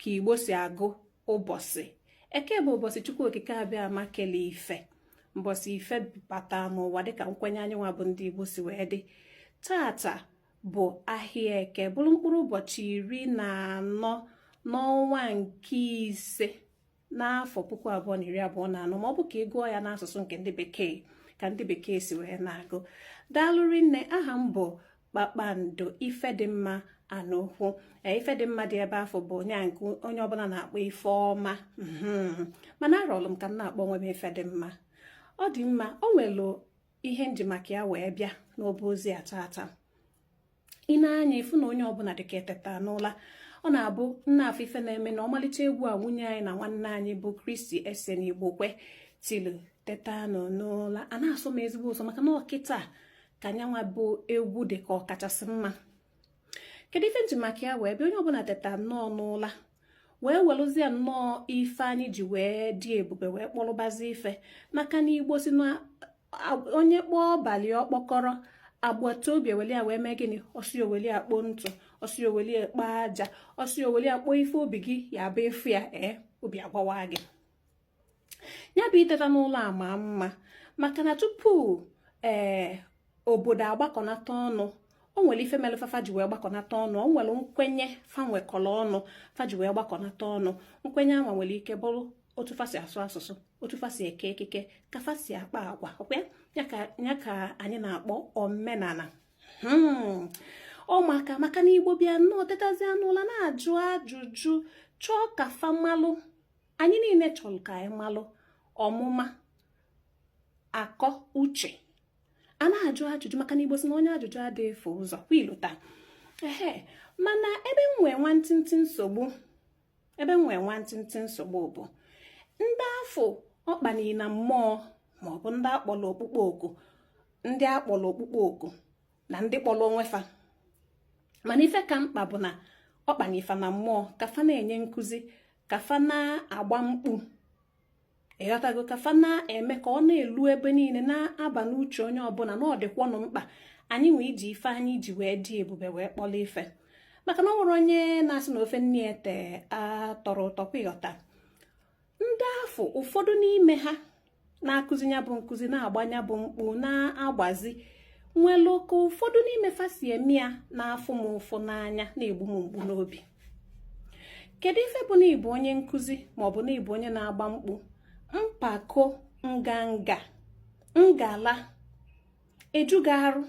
ka igbo si agụ ụbọsị eke bụ ụbọsị chukwu okike abịama kele ife mbọsị ife bata n'ụwa dịka nkwenye anyị nwa bụ ndị igbo si wee dị tata bụ ahịa eke bụlụ mkpụrụ ụbọchị iri na anọ n'ọnwa nke ise n'afọ puku abụọ na iri abụọ na anọ ma ọ bụ ka ị gụọ ya n'asụsụ nke ndị bekee ka ndị bekee si wee na-agụ daalụ rinne aha m bụ kpakpando ifedịmma anokwu e, ifedịmma dị ebe afụ bụ onye nke onye ọbụla na-akpọ ifeọma mhm. mana arọlụ m ka m na-akpọ onwe m ifedịmma ọ dị mma o nwelu ihe m ji maka ya wee bịa n'obe ozi a tata ị nee anya ị fụ na onye ọbụla dịka e teta n'ụla ọ na-abụ m na-afụ ife na-eme na ọmalịcha egwu a nwunye anyị na nwanne anyị bụ christy essien igbokwe tilu teta nụ n'ụla ana-asọ m ezigbo ụsọ maka na ọ kịta ka nya nwa bụ egwu dị ka ọ kachasị mma kedu ife m ji maka ya wee bịa onye ọbụla teta nnọọ n'ụla wee welụzie nnọọ ife anyị ji wee dị ebube wee kpọrọbazi ife maka na igbo si na onye kpọọ ọba ya ọkpọkọrọ agbata obi eweli ya wee mee gịnị ọ sị o weli ya kpoo ntụ ọ sị o weli ya kpoo aja ọ sị o weli ya kpoo ife obi gị ya bụ ị fụ ya ee obi agbawa gị ya bụ iteta n'ụla ama mma maka na tupu ee obodo agbakọnata ọnụ o nwere ife mere fafa ji wee gbakọnata ọnụ o nwere nkwenye fa nwekọrọ ọnụ fa ji wee gbakọnata ọnụ nkwenye afụ nwere ike bụrụ otu fa si asụ asụsụ otu fa si eke ekike ka fa si akpa agwa ọkwa ya ka anyị na-akpọ omenala hmm. ọ maka maka na igbo bịa nnọọ tetazia n'ụla na-ajụ ajụjụ chọọ ka fa malụ anyị niile chọrọ ka anyị malụ ọmụma akọ uche a na-ajụ ajụjụ maka na igbo si na onye ajụjụ adịghị efu ụzọ kwa i lota ee mana ebe m nwee nwantịntị nsogbu ebe m nwee nwantịntị nsogbu bụ ndị afụ ọ kpanii na mmụọ ma ọ bụ ndị a kpọrọ ọkpụkpọ oku ndị a kpọrọ ọkpụkpọ oku na ndị kpọrọ onwe fa mana ife ka mkpa bụ na ọ kpani fa na mmụọ ka fa na-enye nkụzi ka fa na-agba mkpu ịghọtago ka fa na-eme ka ọ na-elu ebe niine na-aba n'uche onye ọbụla na ọ dịkwanụ mkpa anyị nwa iji ife anyị ji wee dị ebube wee kpọrọ ife maka na o nwerọ onye na-asị na ofe nne e te atọrọ ụtọ kwa ịghọta ndị afụ ụfọdụ n'ime ha na-akụzi nya bụ nkụzi na-agba nya bụ mkpu na-agbazi nwelu ka ụfọdụ n'ime fa si eme ya na-afụ m ụfụ n'anya na-egbu m mgbu n'obi kedu ife bụ na ịbụ onye nkụzi maọbụ na ịbụ onye na-agba mkpu mpako nganga ngala eju gị arụ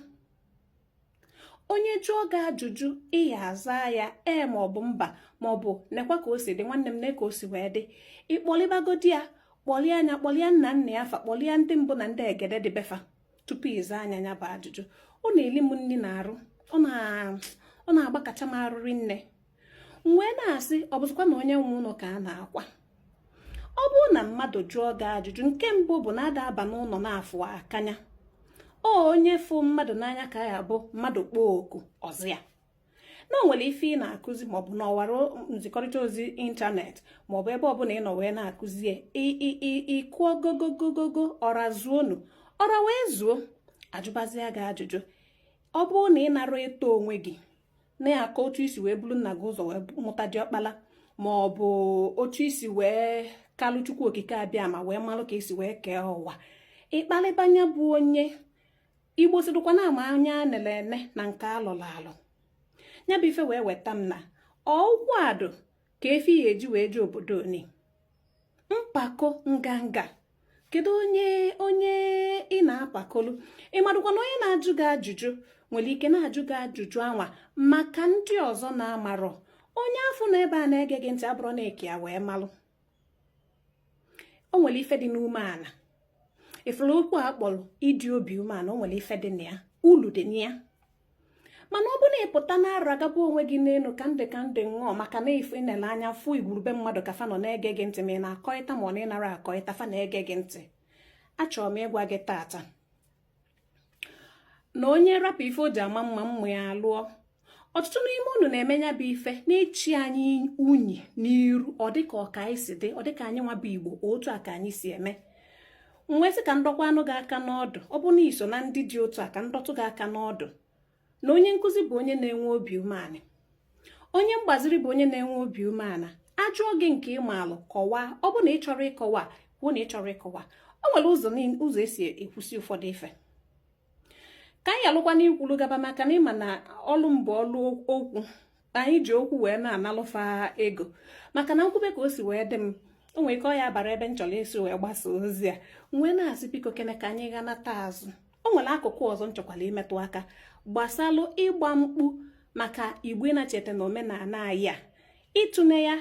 onye jụọ gị ajụjụ ị ya-aza ya ee maọbụ mba maọbụ nekwa ka o si dị nwanne m ne ka o si wee dị ị kpọlịbagodi ya kpọlịa nya kpọlịa nna nna ya fa kpọlịa ndị mbụ na ndị egede dị be fa tupu ị zaa nya nya bụ ajụjụ ọ na-eli m nri na arụ ọ na-agbakacha m arụ rinne m wee na-asị ọ bụzikwa na onye nwe ụnọ ka a na-akwa ọ bụrụ na mmadụ jụọ gị ajụjụ nke mbụ bụ na ada aba n'ụnọ na-afụ akanya ọ onye fụ mmadụ n'anya ka ya bụ mmadụ kpọọ oku ọ zaa ya na o nwere ife ị na-akụzi maọbụ na ọwara nzikọrịta ozi ịntanetị maọbụ ebe ọbụla ị nọ wee na-akụzi ị kụọ gogogogogo ọra zuonu ọra wee zuo a jụbazịa gị ajụjụ ọ bụrụ na ị nara eto onwe gị na-akọ otu i si wee buru nna gị ụzọ wee mụta diọkpala ma ọ bụ otu i si wee kalụ chukwu okike abịama wee malụ ka e si wee kee ụwa ị kpalịba nya bụ onye igbo sịdụkwa na a ma anya e nele ene na nke a lọlụ alọ ya bụ ife wee weta m na ọ ụkwụ adụ ka efi ya e ji wee jee obodo oni mpako nganga kedu onye onye ị na-apakolu ị madụkwa na onye na-ajụ gị ajụjụ nwere ike na-ajụ gị ajụjụ anwa maka ndị ọzọ na-amarọ onye afụ nọ ebe a na-ege gị ntị abụrụ na eke ya wee malụ o nwere ife dị n'umeana ị fụrụ okwu a kpọrọ ịdị obi umeana o nwere ife dị na ya ulu dị na ya mana ọ bụ na ị pụta na-aragaba onwe gị n'enu ka ndị ka ndị ṅụọ maka na i nele anya fụ igwurube mmadụ ka fa nọ na-ege gị ntị ma ị na-akọịta ma ọ na ị nara akọịta fa na-ege gị ntị achọrọ m ịgwa gị tata na onye rapụ ife o ji ama mma mma ya alụọ ọtụtụ n'ime unu na-eme nya bụ ife na-echi anyị unyi n'iru ọ dịka ọ ka anyị si dị ọ dịka anyị nwa bụ igbo otu a ka anyị si eme m wee sị ka m dọkwaanụ gị aka n'ọdụ ọ bụ na i so na ndị dị otu a ka m dọtụ gị aka n'ọdụ na onye nkụzi bụ onye na-enwe obi umeana onye mgbaziri bụ onye na-enwe obi umeana a jụọ gị nke ị maalụ kọwaa ọ bụ na ị chọrọ ịkọwa kwuo na ị chọrọ ịkọwa o nwere ụzọ e si ekwusi ụfọdụ ife ka anyị yalụkwanụ ikwulu gaba maka na ị ma na ọlụ m bụ ọlụ okwu anyị ji okwu wee na-analụ fa ego maka na m kwube ka o si wee dị m o nwere ike ọ ya bara ebe m chọrọ isi wee gbasa ozi a m wee na-asị biko kene ka anyị ghanata azụ o nwere akụkụ ọzọ m chọkwara imetụ aka gbasalụ ịgba mkpu maka igbo na-echeta na omenana anyị a ị tụnee ya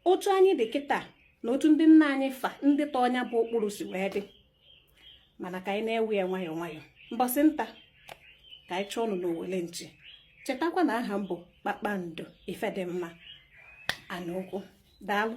otu anyị dị kịta na otu ndị nna anyị fa ndị tọọ nya bụ ụkpụrụ si wee dị mana ka anyị na-ewe ya nwayọọ nwayọọ mbọsị nta ka anyị chụọnụ n'owele nchi chetakwa na aha m bụ kpakpando ifedimma anukwu daalụ